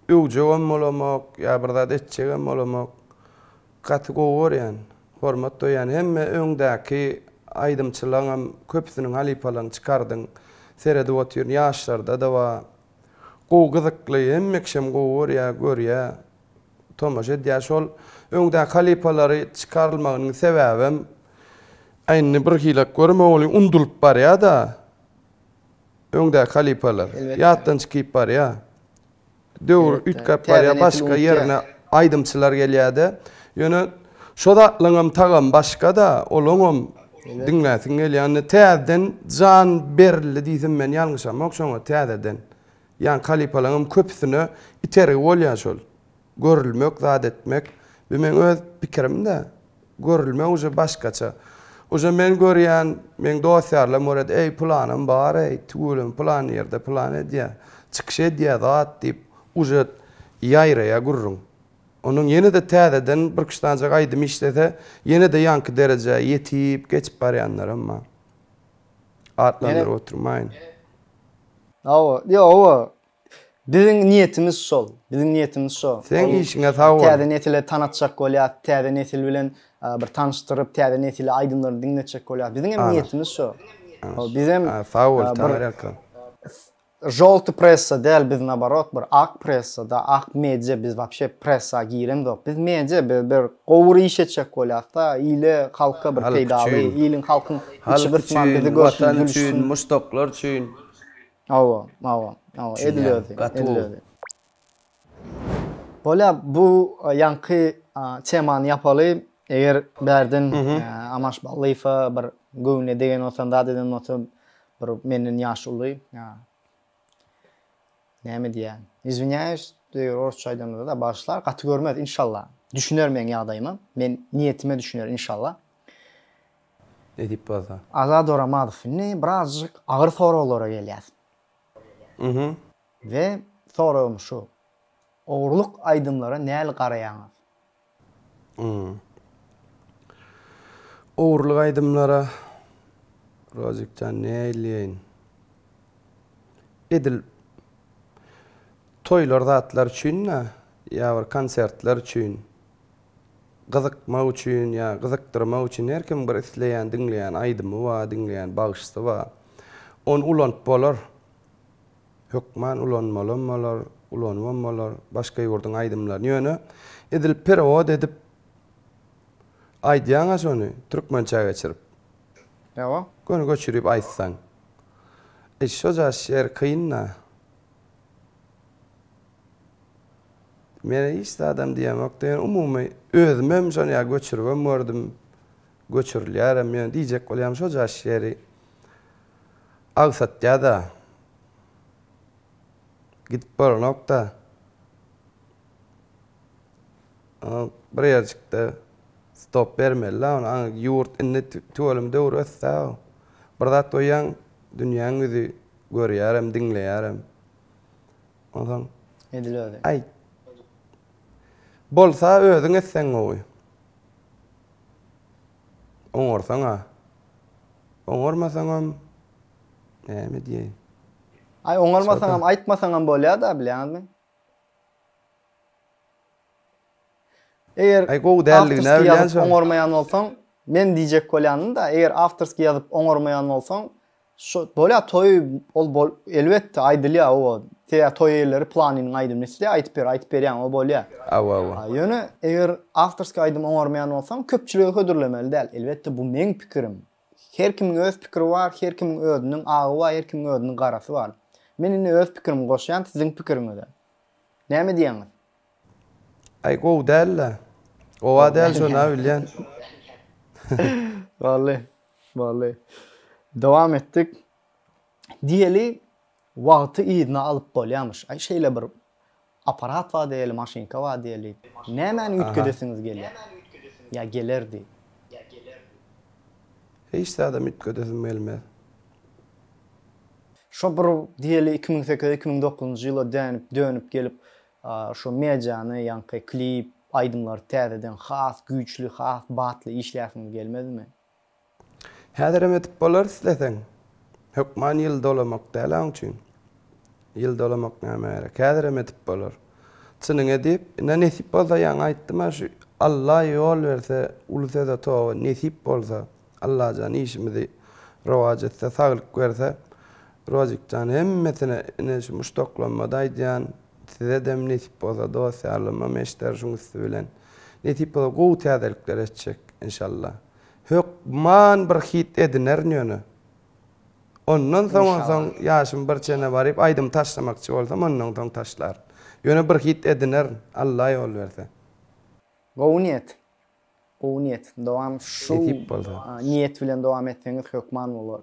öwjegem bolamok, ýa bir zat etjegem bolamok. Gaty gowy görýän, hormat doýýan. Hemme öňdäki aýdymçylaňam köpüsiniň halypalaryny çykardyň. Seredip otyryn, ýaşlarda-da bar. Gowy, gyzykly, hemme kişem gowy görýä, görýä. tomaşa edýär. Şol öňdäki halypalary çykarylmagynyň sebäbem indi birhili görmegiň undulyp barýar-da öňdäki halypalar. Ýatdan çykyp barýar. Döwür üýtgäp barýar, başga ýerine aýdymçylar gelýär-de. Ýöne şo zatlaryňam tagamy başga-da, olaňam diňläsiň gelýär. Indi täzeden jan berildi diýsem men ýalňyşamok şoňa täzeden. Ýaňky halypalaňam köpüsine itergi bolýar şol. Görülmek, zat etmek. Bu meň öz pikirim-dä. Görülmek uje başgaça. Uje men görýän, meň dost-ýarlarym görýärdi, eý, pylanym bar-eý, tüweleme pylan ýerde pylan edýär, çykyş edýär, zat diýip, uje ýaýraýar gürrüň. Ondan ýene-de täzeden birküç sanjak aýdym işlese, ýene-de ýaňky derejä ýetip, geçip barýanlaram bar. Atlandyryp oturmaýyn. Hawa, ýok, hawa. Biziň niýetimiz şol. Biziň niýetimiz şo. Seň işiňe sag bol. Täze nesile tanatjak bolýas, täze nesil bilen bir tanyşdyryp, täze nesile aýdymlaryny diňletjek bolýas. Biziňem niýetimiz şo. Bizem. Sag bol, Taňyrýalkam. Žolty pressa däl biz naborot bir ak pressa da ak media biz wapşe pressa giremzok biz media biz bir gowur iş etjek bolýasda ile halka bir peýdaly iliň halkyň içi gysman bizi görsün gülüşsün muşdaklar üçin hawa hawa hawa edil özi edil özi. Bolýar, bu ýaňky temany ýapaly. Eger bärden Amaş Ballyýewe bir göwnüne degen bolsa, zat eden bolsa, bir menden ýaşy uly, näme diýýän, izwinyýaýus, eger orsça aýdamda-da, bagyşlar, gaty görmez, inşallah, düşüner meň ýagdaýyma, men niýetime düşüner, inşallah. Edip bolsa. Azat Oramadow, indi birazjyk agyr soraglara gelýäs. We soragym şu, ogurlyk aýdymlara näl garaýaňyz? Ýa. Ogurlyk aýdymlara Rozik jan näýleýin. Edil toýlar zatlar üçin-de ýa bir konsertler üçin gyzykmak üçin ýa gyzykdyrmak üçin her kim bir isleýän diňleýän aýdymy bar, diňleýän bagşysy bar. Ony ulanyp bolar. Hökman ulanmalam bolar, ulanybam bolar, başga ýurduň aýdymlaryny ýöne edil perewod edip aýdýaňa şony türkmençä geçirip. Ýa-a. Göni göçürip aýtsaň. E şo jaş ýer kyn-da. Men hiç zadam diýemok diýen umumy özümem şony ýa göçüribem gördüm, göçürilýärem ýöne diýjek bolýarym şo jaş ýeri. Agsatýa-da, gidip bolanok-da, bir ýerjikde stop bermeli-dä ony, aňa ýurt indi tüweleme döwür ösdä-ow. Bir zat goýýaň, dünýäň ýüzi görýärem, diňleýärem. Onsoň. Edil özi. Aý. Bolsa özüň etseň gowy. Oňarsaň-a. Oňarmasaňam, näme diýeýin. Aý, oňarmasaňam, aýtmasaňam bolýar-da, bilýäňizmi? Eger awtorskiý ýazyp oňarmaýan bolsaň, men diýjek bolýanym-da, eger awtorskiý ýazyp oňarmaýan bolsaň, Şo bolýa toý ol bol elbetde aýdylýa oba seýa toý eýeleri planynyň aýdymyny islýa aýdyp ber aýdyp berýäň o bolýa. Awa awa. Ýöne eger awtorskiý aýdym oňarmaýan bolsaň köpçülige hödürlemeli däl elbetde bu meň pikirim her kimiň öz pikiri bar her kimiň özüniň agy bar her kimiň özüniň garasy bar men indi öz pikirimi goşýan siziň pikiriňize näme diýýäňiz. Aý gowy dälda. Gowa däl şonda bilýän. Wally Wally. Dowam etdik. Diýeli, wagty yzyna alyp bolýarmyş. Aý, şeýle bir apparat bar diýeli, maşynka bar diýeli. Nämäni üýtgedesiňiz gelýär? Ýa gelerdi? Hiç zadam üýtgedesim gelmez. Şo bir diýeli iki müň sekiz, iki müň dokuzynjy ýyla dänip, dönüp gelip, Şu mediany, ýaňky klip, aýdymlary täzeden has güýçli, has batly işläsiňiz gelmezmi? Häzirem edip bolar isleseň. Hökman ýyl dolamak däl-ä oň üçin. Ýyl dolamak näme gerek. Häzirem edip bolar. Çynyňy edip, ine nesip bolsa ýaňy aýtdym-a şu Alla ýol berse uly söze toba nesip bolsa. Allajan işimizi rowaç etse saglyk berse Rožikjan hemmesine ine şu muşdaklanmada aýdýan sizedem nesip bolsa dost ýarlamam eşder şuň üsti bilen nesip bolsa gowy täzelikler eştjek inşallah hökman bir hit edinerin ýöne ondan soň onsoň ýaşym bir çene baryp aýdym taşlamakçy bolsam ondan soň taşlaryn ýöne bir hit edinerin Alla ýol berse. Gowy niýet. Gowy niýet. Dowam şu niýet bilen dowam etseňiz hökman bolar.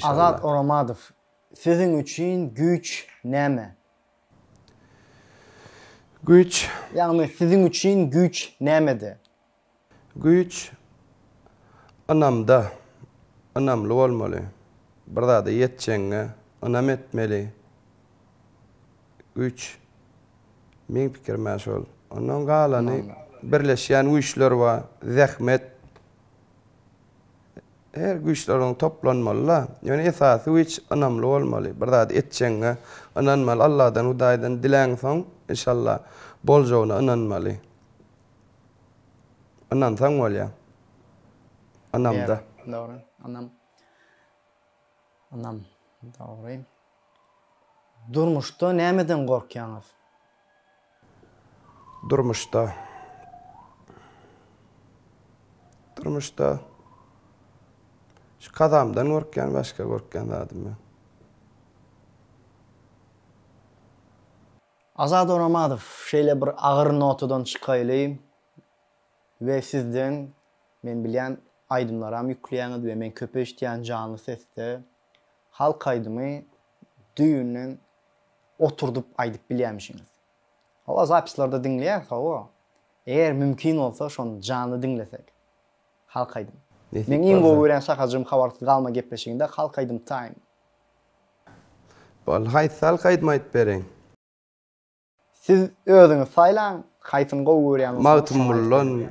Azat Oramadow siziň üçin güýç näme? Güýç. Ýagny siziň üçin güýç nämede? Güýç ynamda. Ynamly bolmaly. Bir zada ýetjegiňe ynam etmeli. güýç. Meň pikirime şol. Ondan galany birleşýän güýçler bar, zähmet. Her güýçler onuň toplanmaly-da. Ýöne esasy güýç ynamly bolmaly. Bir zady etjegiňe ynanmaly. Alladan, Hudaýdan diläňsoň, enşalla, boljagyna ynanmaly. Ynansaň bolýar. Ynamda. Dogry, ynam. Ynam, dogry. Durmuşda nämeden gorkýaňyz? Durmuşda. Durmuşda. Şu kazamdan gorkýan, başga gorkýan zadym ýok. Azat Oramadow, şeýle bir agyr notadan çykaýly we sizden, men bilýän, aýdymlaram ýükleýäňiz we men köp eşitýän janly sesde. Halk aýdymy düýbünden oturdyp aýdyp bilýämişiňiz. Hawa zapislarda diňleýäs hawa. Eger mümkin bolsa şony janly diňlesek. Halk aýdymy. Meň iň gowy görýän şahajygym habarsyz galma gepleşiginde halk aýdym taýyn. Boldy haýsy halk aýdymy aýdyp bereýin. Siz özüňiz saýlaň haýsyny gowy görýän bolsaňyz şony aýdyp beriň.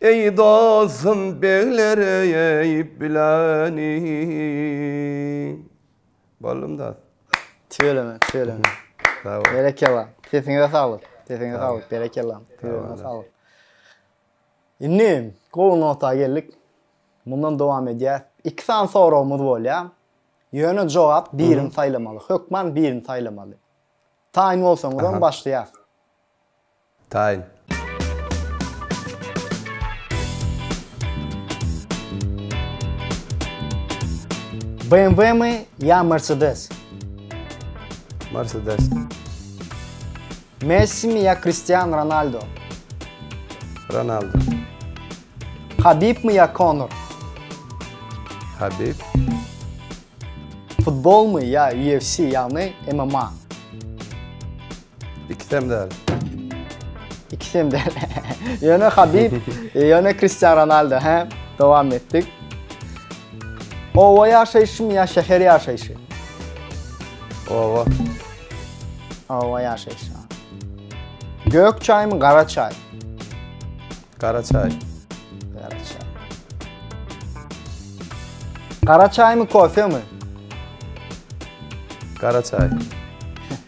Eý dostum begler eýip bileni. Boldum dos. Tüweleme, tüweleme. Sag bol. Berekella. Sesiňize saglyk. Sesiňize saglyk. Berekella. Tüweleme saglyk. Indi gowy nota geldik. Mundan dowam edýäs. Iki sany soragymyz bolýar. Ýöne jogap birini saýlamaly. Hökman birini saýlamaly. Taýyn bolsaňyzam başlaýas. Taýyn. BMW-mi ýa Mercedes? Mercedes. Messi-mi ýa Kristiano Ronaldo? Ronaldo. Habib-mi ýa Konor? Habib. Futbolmy ýa UFC, ýagny MMA? Ikisem däl. İkisem däl. Yöne Habib, yöne Cristiano Ronaldo. He? Devam ettik. Ova yaşayışı mı ya şehir yaşayışı? Ova. Ova yaşayışı. Gök çay mı kara çay? Kara çay. Kara çay. Kara çay mı kofe mi? Kara çay.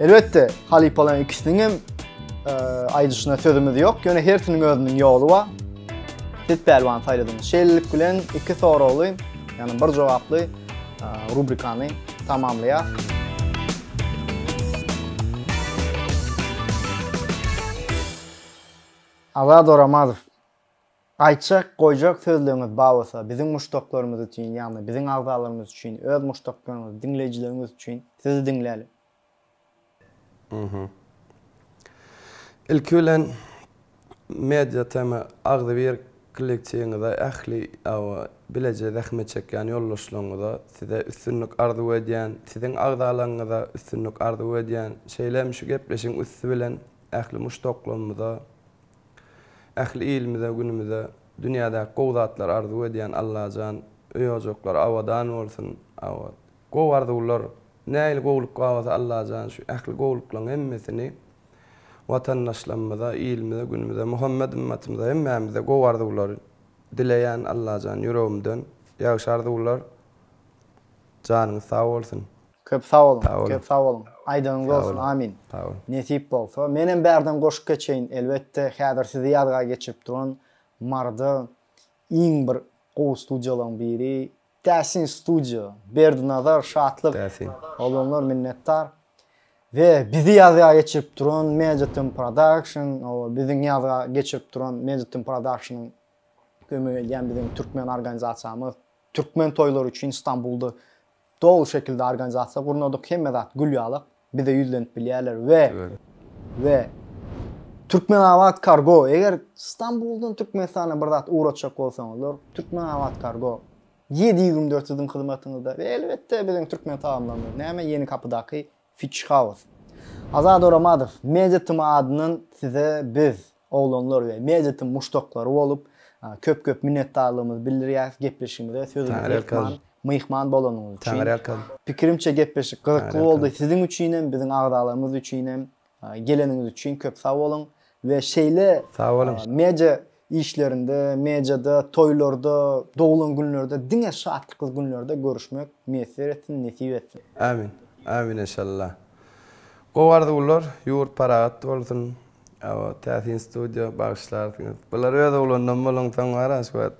Elbetde, halypalaryň ikisiniň hem e, aýdyşyna sözümiz ýok. Ýöne hersiniň özüniň ýoly bar. Siz pälwan saýladyňyz. Şeýlelik bilen iki soragly, ýagny bir jogaply e, rubrikany tamamlaýar. Azad Oramazow. Aýtjak, goýjak sözleňiz bar bolsa, biziň muşdaklarymyz üçin, ýagny biziň agzalarymyz üçin, öz muşdaklaryňyz, diňleýjileriňiz üçin, sizi diňläli. Ilki bilen Media TM agzybir kolektiwiňize, ähli awa bileje zähmet çekýän ýoldaşlaryňyza size üstünlik arzuw edýän, siziň agzalaryňyza üstünlik arzuw edýän, şeýle hem şu gepleşigiň üsti bilen ähli muşdaklarymyza Ähli ilimize günümize dünýädäki gowy zatlary arzuw edýän Allajan öý ojaklary abadan bolsun abat gowy arzuwlar nähili gowluk babasy Allajan şu ähli gowluklaň hemmesini watandaşlamyza ilimize günümize Muhammet ymmatymyza hemmämize gowy arzuwlary dileýän Allajan ýüregimden ýagşy arzuwlar janyňyz sag bolsun. Köp sag boluň, köp sag boluň. Aýdyňyz bolsun, amin. Nesip bolsa, menem bärden goşup geçeýin, elbetde, häzir sizi ýazga geçirip duran Maryda iň bir gowy studiýalaryň biri Täsin studio, Berdinazar, Şatlyk, oglanlar minnetdar. We bizi ýazga geçirip duran Meditm Production, hawa, biziň ýazga geçirip duran Meditm Production-yň kömegi edýän biziň türkmen organizasiýamyz, türkmen toýlary üçin Stambulda Doly şekilde organizasiýa gurnadyk, hemme zat gül ýalak, bize ýüzlenip bilýärler we we Türkmenabatkargo eger Stambuldan Türkmenistana bir zat ugratjak bolsaňyzlar, Türkmenabatkargo ýedi ýügrimdört siziň hyzmatyňyzda we elbetde biziň türkmen tagamlarymyz näme Ýeni Kapydaky Fiçhaus. Azat Oramadow, Media Tma adyndan size biz Oglanlar we Medetiň muşdaklary bolup, köp köp minnetdarlygymyzy bildirýäris gepleşigimize sözümizi ýykman, myhman bolanyňyz üçin. Pikirimçe gepleşik gyzykly boldy siziň üçin hem, biziň agzalarymyz üçin hem. Geleniňiz üçin köp sag boluň we şeýle media işlerinde, mediada, toýlarda, doglan günlerde diňe şatlykly günlerde görüşmek miýesser etsin, nesip etsin. Ämin. Ämin enşalla. Gowy arzuwlar, ýurt parahat bolsun, Awa täsin studio bagyşlarsyňyz. Bular öz oglandan bolunsoň wara şu wagt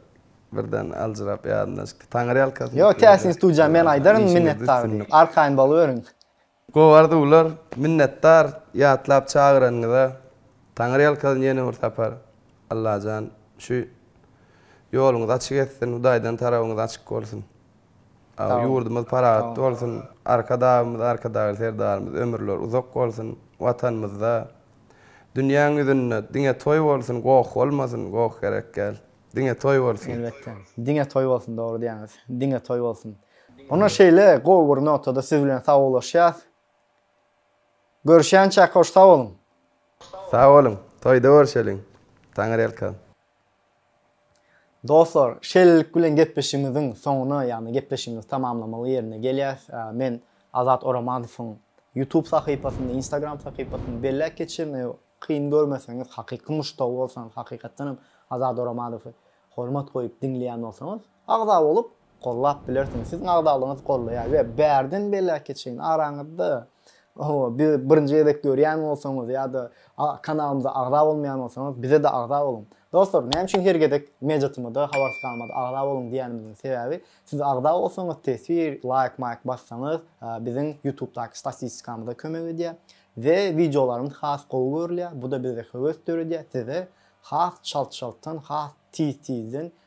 birden aljyrap ýadyna düşdi. Taňyrýalkasyn. Ýok täsin studiýa men aýdaryn minnetdar diýip. Arkaýyn boluberiň. Gowy arzuwlar. Minnetdar ýatlap çagyranyňyza. Taňyrýalkasyn ýene bir sapar. Allajan şu ýoluňyzy açyk etsin. Hudaýdan tarabyňyz açyk bolsun. Ýurdumyz parahatly bolsun, Arkadagymyz, Arkadagly Serdarymyz ömürleri uzak bolsun, Watanymyzda, dünýäň ýüzünde diňe toý bolsun, goh bolmasyn, goh gerek däl. Diňe toý bolsun. Elbetde. Diňe toý bolsun, dogry diýýäňiz. Diňe toý bolsun. Onda şeýle, gowy bir notada siz bilen sagawlaşýas. Görüşýänçäk hoş sag boluň. Sag boluň. Toýda görüşeliň. Taňyrýalkan. Dostlar, şeýlelik bilen gepleşigimiziň soňuna, ýagny gepleşigimizi tamamlamaly ýerine gelýäs. Men Azat Oramanowyň YouTube sahypasyny, Instagram sahypasyny belläp geçerin. Eger kyn görmeseňiz, hakyky muşdagy bolsaňyz, hakykatdanam Azat Oramanowy hormat goýup diňleýän bolsaňyz, Agza bolup gollap bilersiň. Siziň agzalygyňyz gollaýar we bärden beläke çenli araňyzda bizi birinji gezek görýän bolsaňyz ýa-da kanalymyza agza bolmaýan bolsaňyz bize-de agza boluň. Dostlar näme üçin her gezek mejatymyza, habarsyz kalmada agza boluň diýýänimiziň sebäbi siz agza bolsaňyz teswir, laýk maýk bassaňyz biziň ýutubdaky statistikamyza kömek edýär we wideolarymyz has gowy görülýär, bu-da bizde höwes döredýär size has çalt-çaltdan, has tiz-tizden